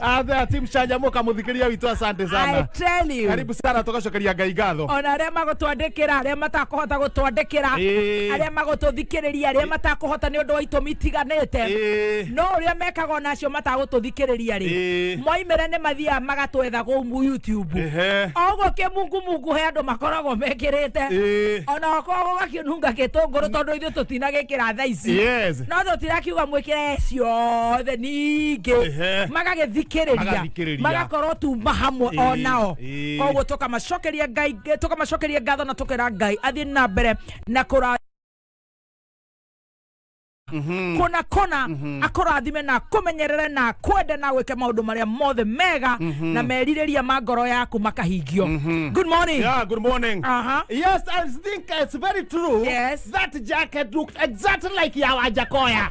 Athe timu chanjamuka muthikiria witũ asante I sana. tell you. Karibu sana tugacokeria Ngai ngatho. ona arĩa magũtwandĩkĩra arĩa matakũhota gũtwandĩkĩra Ĩĩ. arĩa magũtũthikĩrĩria arĩa matakũhota nĩ ũndũ wa itũmi itiganĩte Ĩĩ. no ũrĩa mekaga ona acio matagũtũthikĩrĩria rĩ Ĩĩ. moimĩre nĩ mathiaga magatwetha gũu youtube Ehe. o ũguo kĩmungumungu he andũ makoragwo mekĩrĩte Ĩĩ. ona okorwo gũgakĩnunga gĩtũngũrũ tondũ ithuĩ tũtinagĩkĩra thaa ici Yes. no tũtirakiuga mwĩkĩre ciothe ingĩ Ehe. magagĩthikĩrĩria Magathikĩrĩria. magakorwo tuma hamwe Ĩĩ, o nao ĩĩ. koguo tũkamacokeria ngai tũkamacokeria ngatho na tũkera ngai athiĩ na mbere na kũra kona kona akũrathime na akũmenyerere na akwende na gwĩke maũndũ marĩa mothe mega na merirĩria ma ngoro yaku makahingio good morning Yeah, good morning. Aha. Yes, I think it's very true. Yes. That jacket looked exactly like Yawa Jakoya.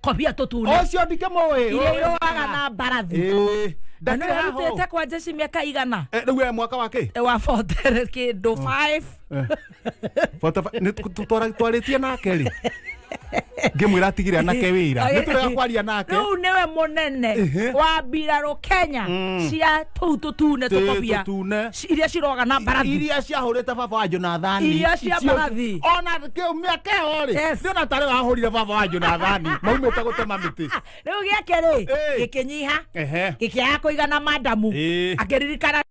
kobia totune ocio ndikĩmũĩ iria iroaga na mbarathi Ĩĩ, na nä ndakĩrĩ haha arutete ũũ. kwa jeshi mä aka igana Eh, rĩu we mwaka wa kĩ wa botere kä ndå twarĩtie nake rĩ ngĩmwĩra atigire anake wĩra nĩ tũrega kwaria nake rä u nä we må nene Ehe. wa mbirarå kenya Mm. cia tå u tå tune tå Tĩ kobia tũtune. ci- iria ciroga na mbarathi iria ciahũrĩte baba wa jonathani Iria cia icio- mbarathi. ona kĩu mĩaka ĩyo rĩ Yes. nĩona tarĩ wahũrire baba wa jonathani maumĩte gũtema mĩtĩ rä u gä ake rä Ĩĩ. gä kä nyiha ehe gä kä aga kå igana mandamu Ĩĩ. akä ririkana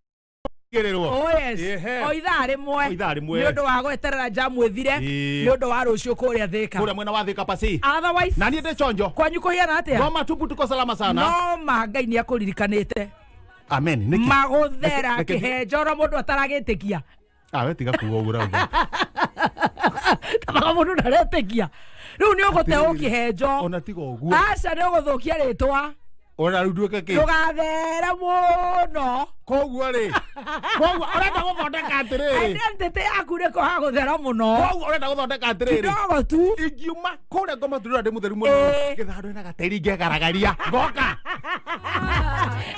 gererwo Oh, yes. Ehe. o ithaa rä mwe O ithaa rĩmwe. nä å ndå wa gweterera njamu ä thire Ĩĩ. nä å ndå wa rå ciå kå rä a thä ka kũrĩa mwena wa thika pasi Otherwise, na niĩ ndĩ chonjo kwanyu kå hiana atä a ngoma tupu tuko salama sana noma ngai nä akå ririkanä te amen nĩkĩ magũthera Reke- reke- kĩhenjoro mũndũ ataragĩtĩkia Ah, we tiga kuga ũguo rauga tamaga mũndũ ndaretĩkia rĩu nĩ ũgũte Atĩrĩrĩ, ũkĩhenjo ona tiga ũguo aca nĩ ũgũthũkia rĩtwa ona rĩu nduĩke kĩ ndũgathera mũno koguo rĩ koguo ũrenda gũthondeka atĩrĩrĩ identity yaku nĩko hagũthera mũno koguo ũrenda gũthondeka atĩrĩrĩ kidogo tu ingiuma kũrĩa ngoma ndũrĩra ndĩ mũtheru mũno Eh. ngĩthandũ ena gateri ngegaragaria ngoka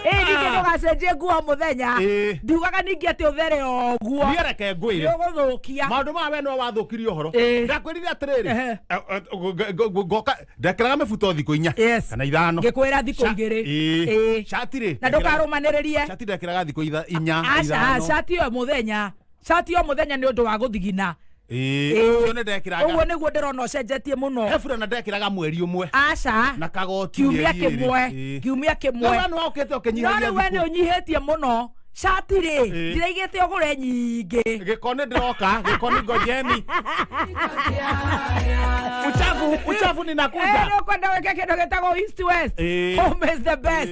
ĩ ningĩ ndũgacenjie nguo mũthenya Ĩ. ndiugaga ningĩ atĩ ũthere o ũguo niĩ reke ngwĩre nĩũgũthũkia maũndũ maya we no wathũkirie ũhoro Ĩ. ndakwĩrire atĩrĩrĩ Ehe. eh, eh, ngo- ngo- ngo- ngoka ndekĩraga mĩbuto thikũ inya Yes. kana ithano ngĩkwĩra thikũ Sha- igĩrĩ Ĩ. Ĩ. Shati rĩ na ndekĩraga- ndũkarũmanĩrĩrie shati ndekĩraga thikũ itha- inya aca ithano. cati ĩyo mũthenya cati o muthenya nĩ ũndũ wa gũthigina Ĩĩ, Ĩĩ. ũcio nĩ ndekĩraga ũguo nĩguo ndĩrona ũcenjetie mũno he burana ndekĩraga mweri ũmwe aca na kagoti kiumia mĩeri ĩĩrĩ. kĩmwe Ĩĩ. kiumia Rĩu kĩmwe wee nĩwaũkĩte no ũkĩnyihagia rĩu we nĩ thikũ. ũnyihĩtie mũno cati rĩ Ĩĩ. ndiraigĩte ũgũre nyingĩ gĩko nĩ ndĩroka gĩko nĩ ngojeni uchafu uchafu ninakuja nä å kwenda wä ke kä ndå gä tagwo Ĩĩ. home is the best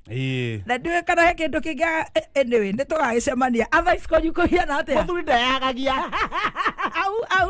Ĩĩ. na ndiũĩ kana he kĩndũ kĩngĩ anyway nĩ tũgagĩcemania athais kwanyu kũhiana atĩa mũthuri ndayagagia au au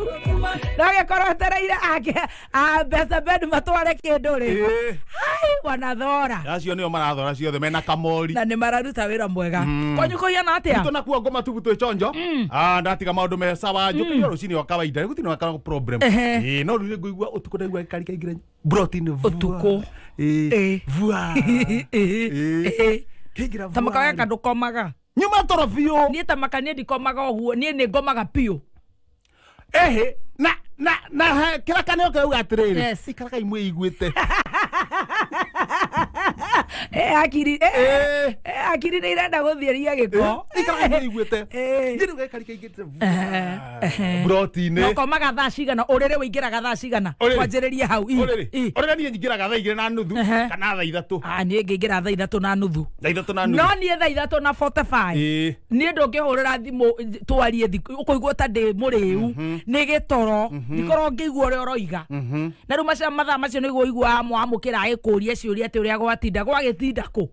no gĩkorwo etereire ake a mbeca bed matware kĩndũ rĩ Ĩĩ. hai wanathora acio nĩo marathora ciothe mena kamori na nĩ mararuta wĩra mwega kwanyu kũhiana atĩa Tuto nakuo ngoma tubu twĩ chonjo Ah, ndatiga maũndũ me sawa njũkĩire rũcinĩ wa kawaida rĩu gũtirĩ na problem Ehe. Ĩĩ, no rĩu nĩ ngũigua ũtukũ ndaigua gĩkari kaingĩra brought in vua. Ũtukũ. Eh, Eh. vua Eh. Eh. Kĩngira ta vua makagaka rĩ. ndũkomaga nyuma toro biũ niĩ ta maka niĩ ndikomaga ũguo niĩ nĩ ngomaga biũ ehe na na na he- kĩrĩa kaneo keuga atĩrĩrĩ Yes. ikaragai mwĩiguĩte Eh, akiri eh, Eh. eh, akiri nĩ irenda gũthiĩria gĩko ikaragai mwĩiguĩte Eh. Thiĩ rĩu gaikari kaingĩ mburoti-inĩ nokomaga thaa cigana ũrĩrĩ wĩingĩraga thaa cigana Ũrĩrĩ? kwanjĩrĩrie hau Ii, ii. ũrĩrĩ ũrĩrĩ niĩ nyingĩraga thaa igĩrĩ na nuthu Ehe. kana thaa ithatũ Ah, niĩ ngĩingĩra thaa ithatũ na nuthu thaa ithatũ na no nuthu niĩ thaa ithatũ na 45 Ĩĩ. niĩ ndũngĩhũrĩra thimũ th- twarie thikũ ũkũigua ta ndĩ mũrĩu nĩ gĩtoro ndikorwo ngĩigua ũrĩa ũroiga na rĩu macio mathaa macio nĩguo ũiguaga mwamũkĩra agĩkũria ciũria atĩ ũrĩa gwatinda gwagĩtinda kũ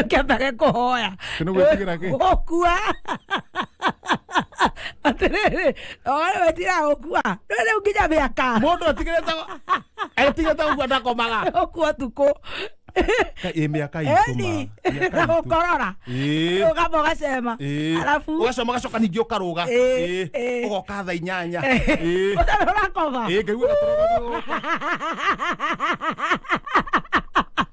ũkĩambage kũhoya Ĩ nĩ gwĩtigĩra kĩ? gũkua atĩrĩrĩ oĩ wetira gũkua no rĩu nginya mĩaka mũndũ atigĩrĩte atigĩrĩte gũkua ndakomaga ũkua tukũ Ka- ĩ mĩaka eni itũma mĩaka na itũ- gũkorora Ĩ. ũgamba ũgacema Ĩ. arabu ũgacoma ũgacoka ningĩ ũkarũga Ĩ, Ĩ. ĩ. ũgoka tha inyanya Ĩ. ũtarĩ ũrakoma Ĩ, ngaigua gatoro gagĩũka.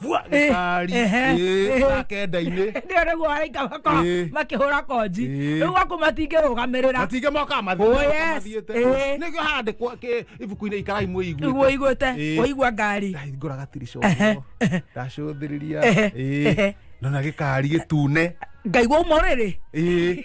vua Eh, gĩkari ehe, eh. na kenda-inĩ ndio niguo araika mako Eh. makihura konji Eh. riu gwaku matingirũgamĩrĩra matingĩ moka Oh, yes. Eh. nĩgio handĩkwo kĩ- ibuku-inĩ ikarai iguo mwĩiguĩte iguĩte Eh. waigua ngari ngora gatirico Ehe, ndacũthĩrĩria Ehe, Ĩĩ. ehe. nona gĩkari gĩtune ngaigua umo rĩrĩ Ĩĩ.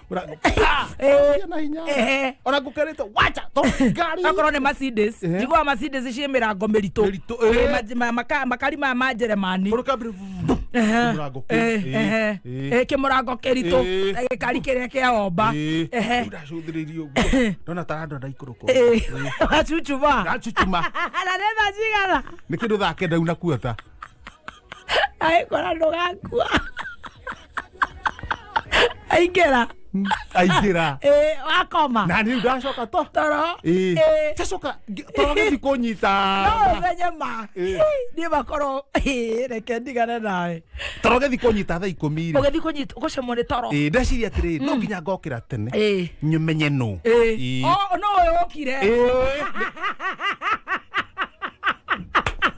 Eh, na hinya ehe ona ngũkĩrĩte wacha to ngari akorwo nä macindes Ehe. njiguaga macindes ciä mä rango mä ritå Mĩritũ, eh. makari maya ma njeremani Mũndũ kambere- Mũrango kĩu. kä må rango kä ritå Eh. gä kari kä rä a kä aomba Eh, Ehe. ndacũthĩrĩirie ũguo ndona tarando ndaikũrũkwo acucuma ndacucuma na nä thacigana nä kä ndå thaa kenda una kuota aĩkora ndũgakua aingĩra aingĩra Eh, wakoma na rĩu ndacoka to toro Ĩĩ. Eh, tacoka toro gĩthi kũnyita no menye ma Ĩĩ. niĩ makorwo ĩĩ, reke ndigane nawe toro gĩthi kũnyita thaa ikũmi rĩ ũgĩthi kũnyita ũgũcemwo nĩ toro Ĩĩ, ndeciria atĩrĩ no nginya ngokĩra tene Ĩĩ. nyũmenye nũ Ĩĩ. Ĩĩ. O, no ũyũ ũkire Ĩĩ.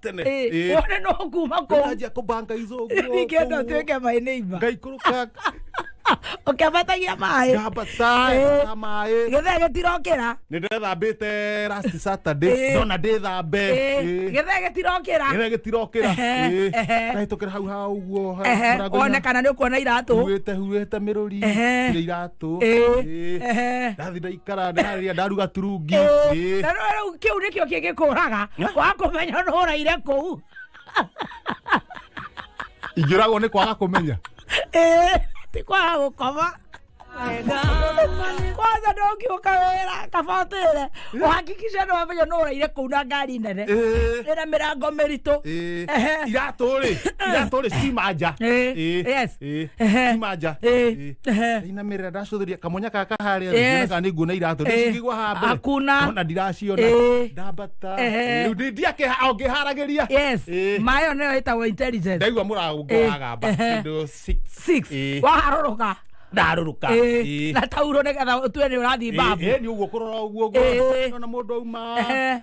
tene Eh, Ĩĩ. wone no kuma kũu Ndĩranjia kũbanga izo ningenda tuĩke my neighbor ngaikũrũka ũkĩambatagia maĩ ngamba Eh. saa maĩ gĩthee gĩtirokĩra nĩ ndĩrethambĩte last saturday Eh. ndona ndĩthambe Eh, Ĩĩ. gĩthee gĩtirokĩra gĩthee gĩtirokĩra Ehe, Ĩĩ. ehe. ndahĩtũkĩra hau ha ũguo Ehe, wone kana nĩ ũkuona iratũ huĩte huĩte mĩrũri Ehe. cia iratũ Ĩĩ, Ĩĩ. ehe. ndathi ndaikara ndarĩa ndaruga turungi Ĩĩ. na rĩu kĩu nĩkĩo kĩngĩkũraga wakũmenya nũraire kũu ingĩragwo nĩ kwaga kũmenya Ĩĩ, ti kwaga gũkoma kwanza ndũngiũka wĩra kaba ũtĩre ũhakikishe nĩ wamenya nũraire kũu na ngari nene Ĩĩ. ĩna mĩrango mĩritũ Ĩĩ. Ehe. iratũ rĩ iratũ rĩ cima nja Ĩĩ. Ĩĩ. Yes. Ĩ, Ehe. ti manja Ĩ, Ĩ. ehe. ndainamĩrĩra ndacũthĩria kamonya kaka harĩa Yes. yes. kana nĩ nguona iratũ Ĩ. ndĩcigigwa haha mbere Hakuna. ona ndiraciona Ĩ. ndambata Ehe. rĩu ndĩ- ndiakĩha- ongĩharagĩria yes Ĩ. mayo nĩyo ĩtagwo intelligence ndaigua mũrango Ĩ. wagamba Ehe. kĩndũ six. six Ĩ. waharũrũka ndarũrũka Ĩ. Ĩ. na tauro nĩgetha ũtue nĩ ũrathiĩ Ĩ, babu ĩ, nĩ ũguo kũrora ũguo Ĩ. ũguo ona mũndũ auma Ehe.